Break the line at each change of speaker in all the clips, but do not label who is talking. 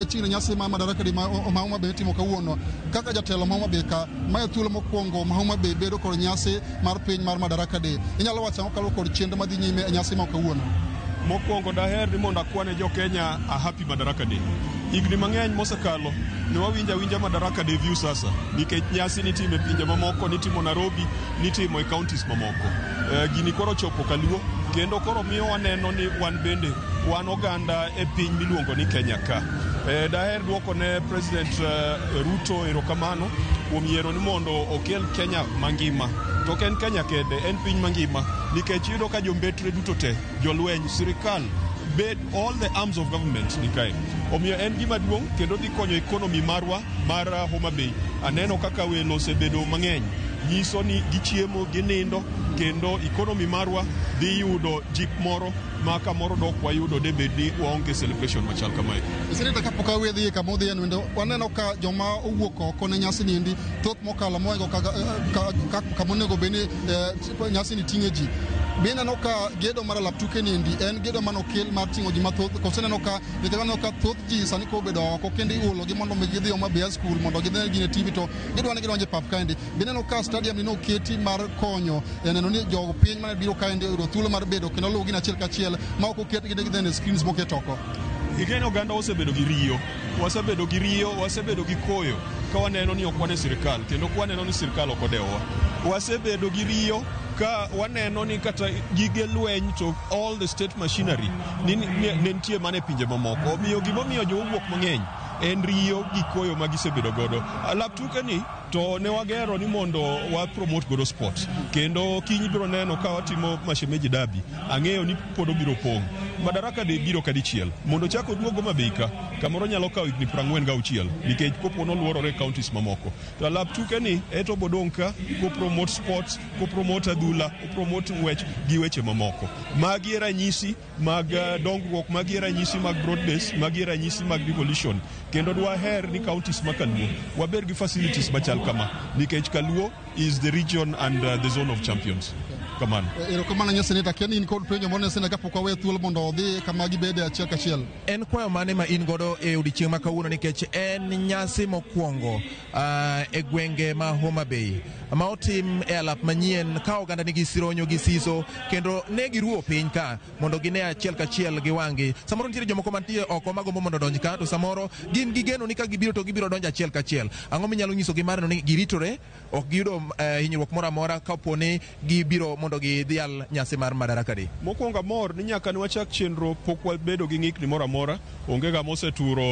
Chino nyasi ma madaraka di ma Homa Bay timo kawuono kaka jatelo ma Homa Bay ka ma e thuolo mokwongo ma Homa Bay bedo kod nyasi mar piny mar madaraka di. Inyalo wacho ang'o kaluwore kod chenro madhi nyime e nyasi ma kawuono? Mokwongo
daher ni mondo akwane jo Kenya a happy madaraka di. Higni mang'eny mosekalo ne wawinja winja madaraka di view sasa nikech nyasi nitimo e pinje mamoko, nitimo Nairobi, nitimo e counties mamoko. Eh, gini koro chopo kaluo kendo koro miyo waneno ni wan bende Wan oganda e piny miluongo ni Kenya ka. E, daher dwoko ne President uh, Ruto erokamano kuom yiero ni mondo okel Kenya mangima. To ok en Kenya kende, en piny mangima nikech yudo ka jombetre duto te, jolweny, sirikal bed all the arms of government ni kae. Omiyo en gima duong' kendo dhi konyo ekonomi marwa mar uh, Homa Bay. Aneno kaka welo osebedo mang'eny nyiso ni gichiemo, ginindo kendo ekonomi marwa dhi yudo jip moro ma kamoro dok wayudo de bed ni waonge celebration machal kamae. Seneta kapok awe
dhi kama odhi en waneno ka joma owuok oko ne nyasi ni endi thoth mokalo moingo kama onego bed ni eh, nyasi ni ting'e ji be ineno ka gedo mar alaptuke ni endi en gedo mane okel mar ting'o ji mathoth kose neno ka nikech waneno ka thoth ji sani koro obedo oko kendo iulogi mondo mi gidhi Homa Bay High School mondo gidhi gine TV to gidwa ni gidonjo e pap kaendi Bineno ka stadium ni noketi mar konyo e neno ni jo piny mane biro kaendi oyudo thuolo mar bedo kendo luw gin achiel kachiel ma ok oketgi ne gidhene screens moket oko. Igeni oganda
osebedo gi riyo, wasebedo gi riyo, wasebedo gi koyo ka waneno ni ok wane sirkal kendo ka waneno ni sirkal ok odewowa. Wasebedo gi riyo ka waneno ni kata gige lweny to all the state machinery ni- ni- ne ne nitie mana e pinje mamoko. Omiyo gimomiyo jowuok mang'eny en riyo gi koyo ma gisebedo godo. Alap tuke ni to ne wagero ni mondo wa promote godo sport kendo kiny biro neno ka watimo mashemeji dabi ang'eyo ni pod obiro pong' madaraka de biro kadichiel mondo chak oduogo mabeika kamoro nyalo kawo higni prang'wen ga auchiel nikech kopo noluorore counties mamoko to alap tuke ni eto bodong' ka kopromote sports kopromote adhula kopromote ng'wech gi weche mamoko magi e ranyisi mag eh, dongruok magi e ranyisi mag broad base magi e ranyisi mag devolution kendo dwaher ni counties ma kaluo waber gi facilities machal kama nikech kaluo is the region and uh, the zone of champions kamano eh, erokamano nyo seneta
ken in kod penjo moro ne seneta kapok wawe thuolo mondo odhi kama gibede achiel kachiel en kwayo mane ma
in godo e odiechieng' ma kawuono nikech en nyasi mokwongo uh, e gwenge ma Homa Bay ma otim e alap manyien ka oganda nigi sironyo gi siso kendo ne giruo piny ka mondo gine achiel kachiel gi wang'gi. Samoro nitiere jomoko mantie oko magombo mondo odonj ka to samoro gin gi geno ni ka gibiro to gibiro donjo achiel kachiel. Ang'o minyalo nyisogi mar neno ni giritore ok giyudo uh, hinyruok moro amora kapo ni gibiro mondo gidhial nyasi mar Madaraka Day. Mokwongo amor ni nyaka
ne wachak chenro pok wabedo gi ng'ikni moro amora, onge ng'ama oseturo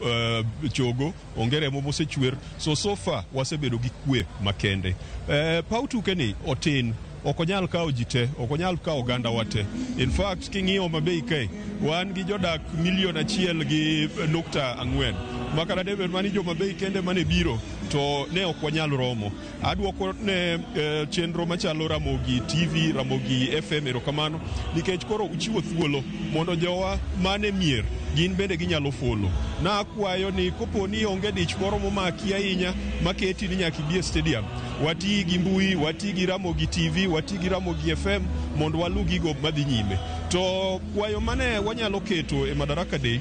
eh, chogo, onge remo mosechwer. So so far wasebedo gi kwe makende. Eh, Paw tukeni otin ok onyal kawo ji te, ok onyal kawo oganda wa te. In fact king'iyo Homa Bay kae, wan gi jodak milion achiel gi nukta ang'wen. Makana debed mani Homa Bay kende mane biro to ne ok wanyal romo. Adwoko ne eh, chenro machalo Ramogi TV, Ramogi FM erokamano nikech koro uchiwo thuolo mondo jowa mane mier gin bende ginyalo folo. Nakwayo ni kopo ni onge dich moro momaki ahinya maketi ni nyaka ibi e stadium, wati gi mbui, wati gi Ramogi TV, wati gi Ramogi FM mondo walu gigo madhi nyime. To kwayo mane wanyalo keto e Madaraka Day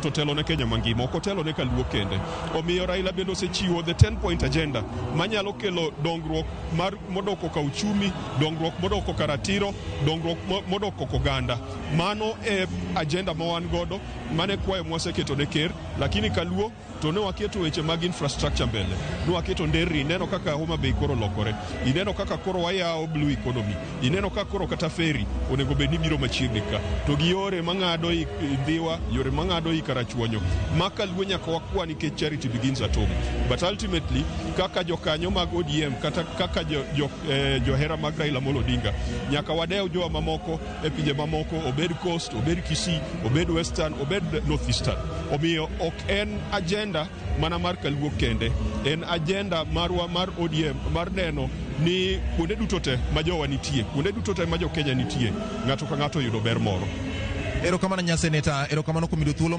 to telo ne Kenya mangima ok otelo ne Kaluo kende. Omiyo Raila bende osechiwo the 10 point agenda manyalo kelo dongruok mar modok koka uchumi, dongruok modok koka ratiro, dongruok mo- modok koka oganda. Mano e agenda ma wan godo, mane kwayo mwaseketo ne ker, lakini Kaluo to ne waketo weche mag infrastructure mbele, ne waketo nderni, ineno kaka Homa Bay koro lokore, ineno kaka koro wayawo blue economy. Ineno ka koro kata feri onego bed ni biro machiegni ka to gi yore mang'ado i i Ndhiwa, yore mang'ado i Karachuonyo ma kaluo nyaka wakwa nikech charity begins at home. But ultimately kaka jokanyo mag ODM kata kaka jo, jo, eh, johera mag Raila Amolo Odinga nyaka wadew jowa mamoko e pinje mamoko obed coast, obed Kisii, obed western, obed northeastern. Omiyo ok en agenda mana mar kaluo kende en ajenda marwa mar ODM mar neno ni kuonde duto te ma jowa nitie kuonde duto te ma jo Kenya nitie ng'ato
ka ng'ato
yudo
ber
moro.
Erokamano
nya seneta, erokamano kuom
yudo
thuolo